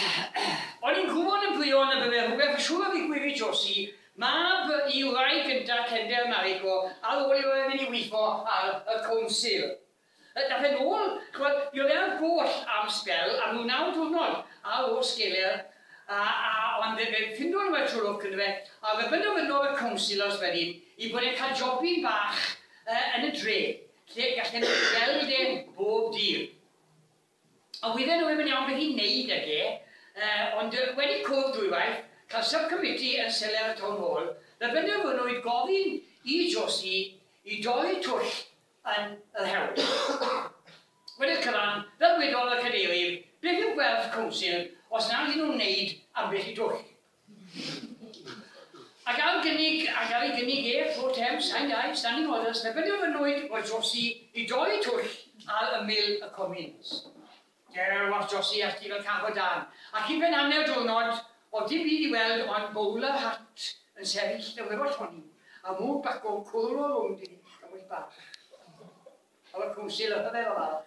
O'n i'n gwybod yn fuan y bydde rhywbeth yn siŵr o ddigwydd i Josi, mab i wraig gynta Kendel Mariko, ar ôl iddo fe fynd i weithio ar y Council. Dath e'n ôl, ch'mod, mi oedd e ar goll am sbel, am ryw naw diwrnod ar ôl sgeler, a, a, ond fe, fe ffindodd rhywbeth trwy lwc yndyfe, a fe benderfynodd y Councilors wedyn i bod e'n cael jobyn bach yn y dre, lle gallen nhw gweld e bob dydd. A wydden nhw ddim yn iawn beth i wneud ag e, ond wedi cwrdd dwywaith, cael sub-committee yn seler y Town Hall, fe benderfynwyd gofyn i Josie i dorri'r twll yn yr hewl. Wedi'r cyfan, fel gwedodd y Cadeirydd, beth yw gwerth Council os nad y'n nhw'n wneud ambell i dwll? Ac ar gynnig, ac ar ei gynnig ef, Four Thames, Sain Dai, Standing Orders, derbyniodd y nwyd oedd Josi i dorri twll ar ymyl y Comins. Gerllaw Josi ati fel cath o dân, ac i ben hanner diwrnod oedd dim byd i weld ond bowler hat yn sefyll yn wefo lloni, a mwg bacw cwrw rownd ei chafwyd bach. Oedd y Cwnsil yn rhyfedd o falch.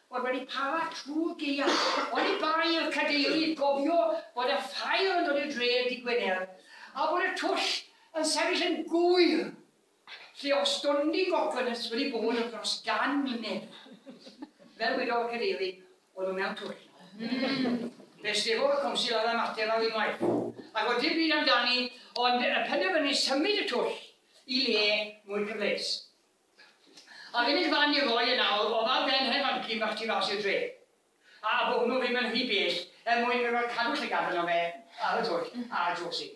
Bod wedi para trwy gaeaf. Oni bai i'r Cadeirydd gofio bod y ffair yn dod i'r dre yn ddydd Gwener, a bod y twll yn sefyll yn gŵyr lle oedd stondin gogonus wedi bod am dros gan mlynedd. Fel wedodd y Cadeirydd, oedd o mewn twll. Ym! Fe stefodd y Council ar y mater ar unwaith, ac oedd dim byd amdani ond penderfynu symud y twll i le mwy cyfleus. A'r unig fan i roi e nawr o'dd ar ben hen fanci bach tu fas i'r dre. A bo' hwnnw ddim yn rhy bell er mwyn iddo ga'l cadw llygad arno fe ar y twll a drosi.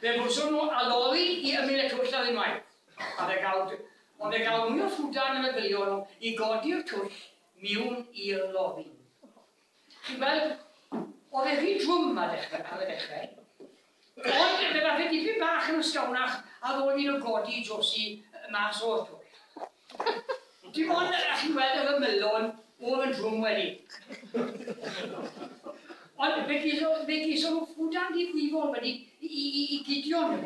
Fe fuswn nhw a lori i ymyl y twll ar unwaith. A fe gawn d- ond fe gawn mwy o ffwdan y meddylion nhw i godi'r twll miwn i'r lori. Chi'n gweld, oedd e'n rhy drwm ar y dechrau. Ond fe ddaeth e dipyn bach yn ysgawnach a ddod ni'n o godi Josie mas o'r twll. Dim ond, a chi'n gweld, oedd y melon oedd yn drwm wedi. Ond fe geison nhw ffwdan ddifrifol wedi i, i, i, i Gideon,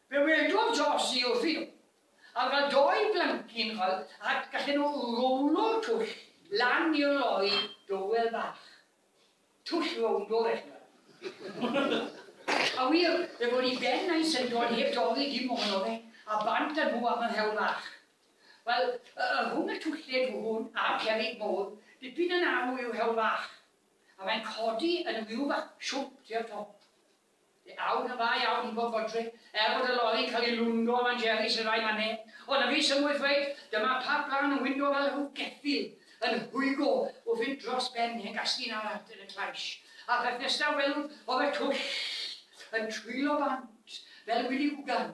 Dywedodd Josie wrthi, a oedd fel dou blancin chwil ac gallen nhw rowlo'r twll lan i'r lori dowel bach. Twll rowndo, ddech chi'n gweld. A wir, fe fo' ni ben a'i syndod heb dorri dim ohono fe, a bant â nhw am yr hewl fach. Wel, yy, rhwng y twlled hwn a'r cerrig mowr, dipyn yn arw yw'r hewl fach, a mae'n codi yn ryw fath siwmp tua'r top. Fe awn yn dda iawn i bob fodryb, er bod y lori'n cael ei lwndo lan Jerry sy'n rhai man 'ne. Ond na fi sy'n mwy ddweud, dyma pa blaen yn wyndo fel rhyw geffyl yn hwygo o fynd dros ben hen gasglu yn araf yn y claish. A'r peth nesaf welwd oedd y twll yn twyllo bant fel wili gwgan.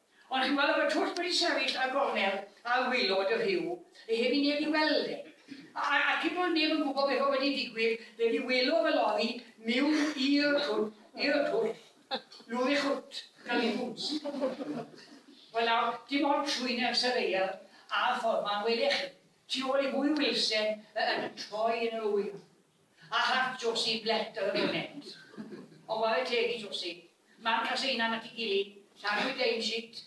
Ond chi'n gweld, efo twll wedi sefyll ar gornel aelwylod y Rhiw, le heb i neb i weld e. A, a, ac hyd yn oed neb yn gwybod beth oedd wedi digwydd, fe fi welodd y lori miwn i'r twll, i'r twll, lwr ei chwt, gan ei bŵts. Wel nawr, dim ond trwy nerth y ddaear a'r ffordd 'ma yn welech chi, tu ôl i fwy o wilsen y- yn troi yn yr ŵyl. A hath Josie blêt ar y foment. Ond ware teg i Josie. Marc a Seinan at ei gilydd, Llanwyd ein shit.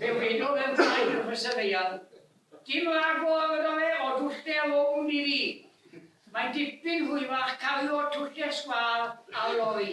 Fe wedodd e'n flaen wrth y syrfeian, Dim lago a fydda fe o dwllder rownd i fi. Mae'n dipyn hwyrach cario twllder sgwâr ar lori.